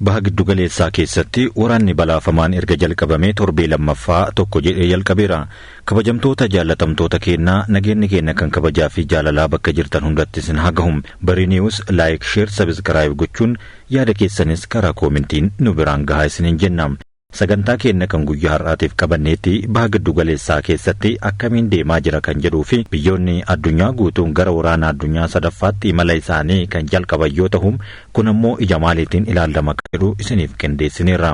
Baha Giddugaleessaa keessatti waraanni balaafamaan erga jalqabamee torbee lammaffaa tokko jedhee jalqabeera. Kabajamtoota jaallatamtoota keenna, nageenni keenna kan kabajaa fi jaalalaa bakka jirtan hundatti isin haa gahu. Bari News Like, Share, Subscribe gochuun yaada keessanis karaa koomentiin nu biraan gahaa isiniin jenna. Sagantaa keenna kan guyyaa har'aatiif qabanneetti baha giddu galeessaa keessatti akkamiin deemaa jira kan jedhuu fi biyyoonni addunyaa guutuun gara waraana addunyaa sadaffaatti imala isaanii kan jalqaban yoo tahu kun ammoo ija maaliitiin ilaallama kan jedhu isiniif qindeessineerra.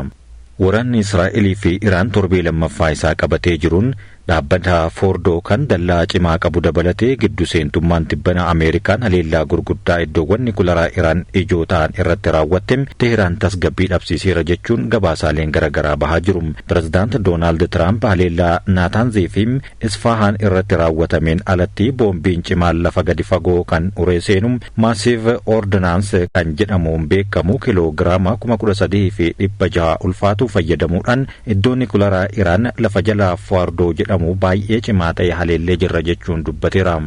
Waraanni Israa'elii fi Iraan torbee lammaffaa isaa qabatee jiruun Dhaabbata Foordoo kan dallaa cimaa qabu dabalatee giddu seentummaan tibbana Ameerikaan haleellaa gurguddaa iddoowwan nikularaa Iraan ijoo ta'an irratti raawwatte Teehraan tasgabbii dhabsiiseera jechuun gabaasaaleen gara garaa bahaa jiru. Pirezidaant Doonaald Tiraamp haleellaa Naataanzii fi Isfaahaan irratti raawwatameen alatti boombiin cimaan lafa gadi fagoo kan uree seenu Massive Ordnance kan jedhamuun beekamu kiloo giraama kuma kudha sadii fi dhibba jaha ulfaatu fayyadamuudhaan Iddoo nikularaa Iraan lafa jala Foardoo jedhamu baay'ee cimaa ta'e haleellee jirra jechuun dubbateera.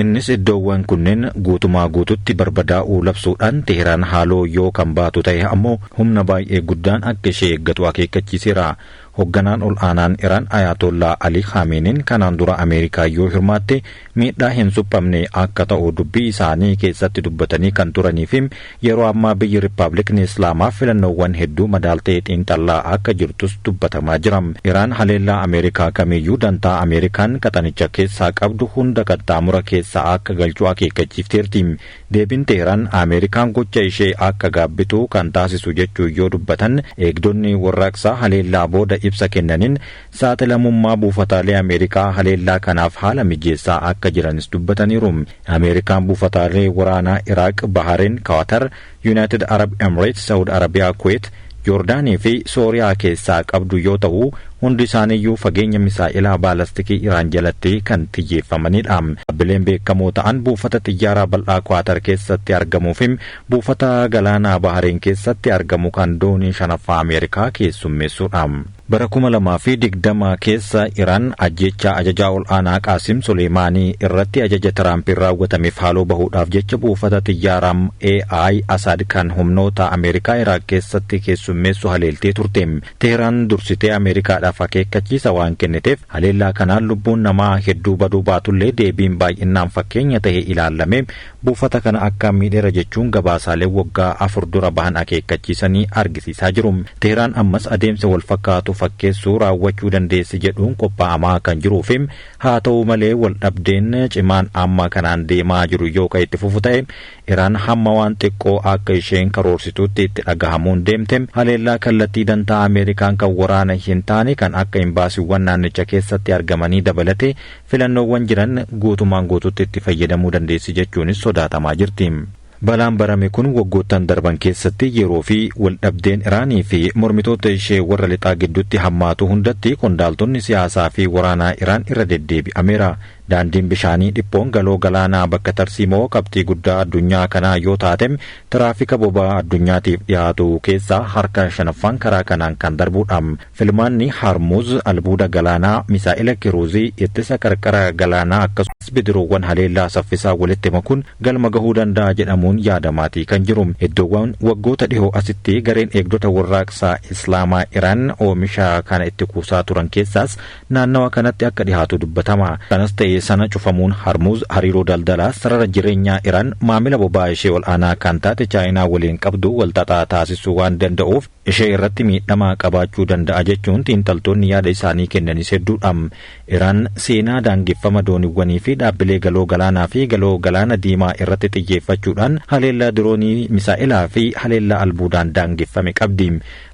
Innis iddoowwan kunneen guutumaa guututti barbadaa'uu labsuudhaan Teehraan haaloo yoo kan baatu ta'e ammoo humna baay'ee guddaan akka ishee eeggatu akeekkachiiseera. Hogganaan ol aanaan Iraan Ayaatollaa Ali Khaameenin kanaan dura Ameerikaa yoo hirmaatte miidhaa hin suphamne akka ta'u dubbii isaanii keessatti dubbatanii kan turanii fi yeroo ammaa biyyi Rippaabliikni Islaamaa filannoowwan hedduu madaaltee xiinxallaa akka jirtus dubbatamaa jira. Iraan haleellaa Ameerikaa kamiyyuu dantaa Ameerikaan qaxanicha keessaa qabdu hunda qaxxaamura keessa akka galchu akeekkachiifteerti. Deebiin Teehraan Ameerikaan gocha ishee akka gaabbitu kan taasisu jechuun yoo dubbatan eegdonni warraaqsaa haleellaa booda ibsa kennaniin Saaxilamummaa buufataalee Ameerikaa haleellaa kanaaf haala mijeessaa akka jiranis dubbataniiru. Ameerikaan buufataalee waraanaa Iraaq, Bahareen, Kaatar, Yunaayitid Arab Emreets, Sa'ud Arabiyaa, Kuweet, Joordaanii fi Sooriyaa keessaa qabdu yoo ta'u, hundi isaaniiyyuu fageenya misaa'elaa baalastikii Iraan jalatti kan xiyyeeffamanidha. Dhaabbileen beekamoo ta'an buufata xiyyaaraa bal'aa Kaatar keessatti argamuu fi buufata galaanaa Bahareen keessatti argamu kan doonii shanaffaa Ameerikaa keessummeessudha. Bara kuma lamaa fi digdama keessa Iraan ajjeechaa ajajaa ol'aanaa Qaasim Suleemaanii irratti ajaja Tiraampiin raawwatameef haaloo bahuudhaaf jecha buufata xiyyaaraa AI Asaad kan humnoota Ameerikaa Iraaq keessatti keessummeessu haleeltee turte. Teehraan dursitee Ameerikaadhaaf akeekkachiisa waan kenniteef haleellaa kanaan lubbuun namaa hedduu baduu baatullee deebiin baay'innaan fakkeenya tahe ilaallamee Buufata kana akkaan miidheera jechuun gabaasaaleen waggaa afur dura bahan akeekkachiisanii argisiisaa jiru. Tehraan ammas adeemsa wal fakkaatu fakkeessu raawwachuu dandeessi jedhuun qophaa'amaa kan jiruu fi haa ta'u malee wal dhabdeen cimaan amma kanaan deemaa jiru yoo kan itti fufu ta'e Iraan hamma waan xiqqoo akka isheen karoorsituutti itti dhagahamuun deemte haleellaa kallattii dantaa Ameerikaan kan waraana hin taane kan akka imbaasiiwwan naannicha keessatti argamanii dabalatee Filannoowwan jiran guutumaan guututti itti fayyadamuu dandeessi jechuunis sodaatamaa jirti. Balaan barame kun waggoottan darban keessatti yeroo fi waldhabdeen Iraanii fi mormitoota ishee warra lixaa gidduutti hammaatu hundatti qondaaltonni siyaasaa fi waraanaa Iraan irra deddeebi'ameera. Daandiin bishaanii dhiphoon Galoo Galaanaa bakka tarsiimoo qabxii guddaa addunyaa kanaa yoo taatem tiraafika boba'aa addunyaatiif dhiyaatu keessaa harka shanaffaan karaa kanaan kan darbuudha. Filmaanni Harmuuz albuuda galaanaa, misaa'ela kiruuzii, ittisa qarqara galaanaa akkasumas bidiruuwwan haleellaa saffisaa walitti makuun galma gahuu danda'a jedhamuun yaadamaatii kan jiru. Iddoowwan waggoota dhihoo asitti gareen eegdota Warraaqsa Islaamaa Iraan oomisha kana itti kuusaa turan keessaas naannawa kanatti akka dhihaatu dubbatama. Kanas ta'e sana cufamuun Harmuuz hariiroo daldalaa sarara jireenyaa Iraan maamila boba'aa ishee ol'aanaa kan taate Chaayinaa waliin qabdu walxaxaa taasisuu waan danda'uuf, ishee irratti miidhama qabaachuu danda'a jechuun xiinxaltoonni yaada isaanii kennanis hedduudha. Iraan seenaa daangeffama dooniwwanii fi dhaabbilee galoo galaanaa fi galoo galaana diimaa irratti xiyyeeffachuudhaan haleellaa diroonii, misaa'elaa fi haleellaa albuudaan daangeffame qabdi.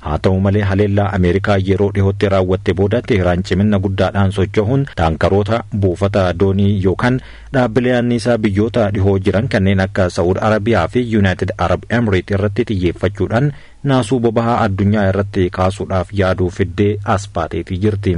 Haa ta'u malee haleellaa Ameerikaa yeroo dhihootti raawwatte booda Tehraan ciminna guddaadhaan socho'uun taankaroota, buufata doonii yookaan dhaabbilee anniisaa biyyoota dhihoo jiran kanneen akka Sa'ud Arabiyaa fi Yuunaayitid Arab Emreet irratti xiyyeeffachuudhaan naasuu bobahaa addunyaa irratti kaasuudhaaf yaaduu fiddee as baateetii jirti.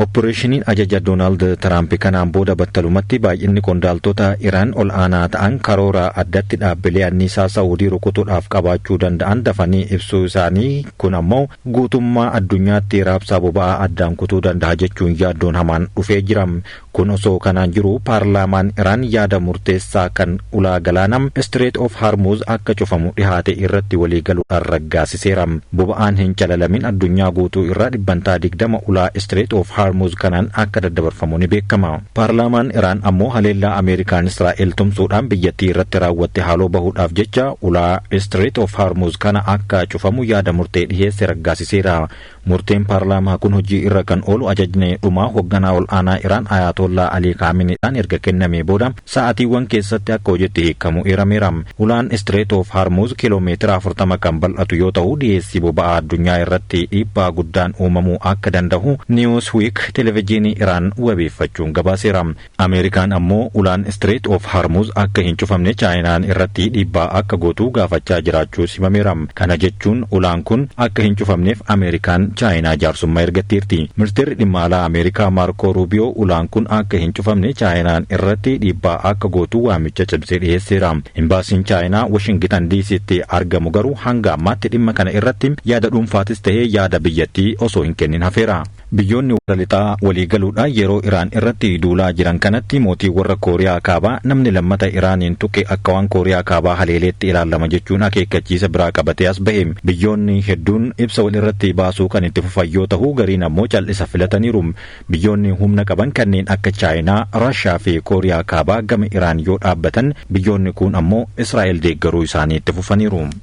Oppireeshiniin ajaja Doonaald Tiraampi kanaan booda battalumatti baay'inni qondaaltota Iraan ol aanaa ta'an karoora addatti dhaabbilee anniisaa Sa'uudii rukutuudhaaf qabaachuu danda'an dafanii ibsuu isaanii kun ammoo guutummaa addunyaatti raabsaa boba'aa addaan kutuu danda'a jechuun yaaddoon hamaan dhufee jira. Kun osoo kanaan jiru paarlaamaan Iraan yaada murteessaa kan ulaa galaana Strait of Hormuz akka cufamu dhihaate irratti walii galuudhaan raggaasiseera. Boba'aan hin calalamin addunyaa guutuu irraa dhibbantaa 20 ulaa Strait of Hormuz kanaan akka daddabarfamu ni beekama. Paarlaamaan Iraan ammoo haleellaa Ameerikaan Israa'el tumsuudhaan biyyattii irratti raawwatte haaloo bahuudhaaf jecha ulaa Strait of Hormuz kana akka cufamu yaada murtee dhiheesse raggaasiseera. Murteen paarlaamaa kun hojii irra kan oolu ajajni dhumaa hogganaa ol aanaa Iraan Ayaatollaa Alii Kaaminiidhaan erga kennamee booda sa'aatiiwwan keessatti akka hojiitti hiikamu eerameera. Ulaan Istireet oof Harmuuz kiiloomeetira 40 kan bal'atu yoo ta'u dhiyeessii boba'aa addunyaa irratti dhiibbaa guddaan uumamuu akka danda'u Newsweek televijiinii Iraan wabeeffachuun gabaaseera. Ameerikaan ammoo ulaan Strait of Harmuz akka hin cufamne Chaayinaan irratti dhiibbaa akka gootu gaafachaa jiraachuus himameera. Kana jechuun ulaan kun akka hin cufamneef Ameerikaan Chaayinaa jaarsummaa ergatteerti. Ministeerri Dhimma Alaa Ameerikaa Maarkoo Ruubiyoo ulaan kun akka hin cufamne Chaayinaan irratti dhiibbaa akka gootu waamicha cimsee dhiheesseera. Imbaasiin Chaayinaa Washingitan DCtti argamu garuu hanga ammaatti dhimma kana irratti yaada dhuunfaatis ta'ee yaada biyyattii osoo hin kennin hafeera. Biyyoonni warra lixaa walii galuudhaan yeroo Iraan irratti duulaa jiran kanatti mootiin warra Kooriyaa Kaabaa namni lammata Iraaniin tuqe akka waan Kooriyaa Kaabaa haleeleetti ilaallama jechuun akeekkachiisa biraa qabatee as bahe. Biyyoonni hedduun ibsa wal irratti baasuu kan itti fufan yoo tahu gariin ammoo cal'isa filataniiru. Biyyoonni humna qaban kanneen akka Chaayinaa, Raashiyaa fi Kooriyaa Kaabaa gama Iraan yoo dhaabbatan biyyoonni kuun ammoo Israa'el deeggaruu isaanii itti fufaniiru.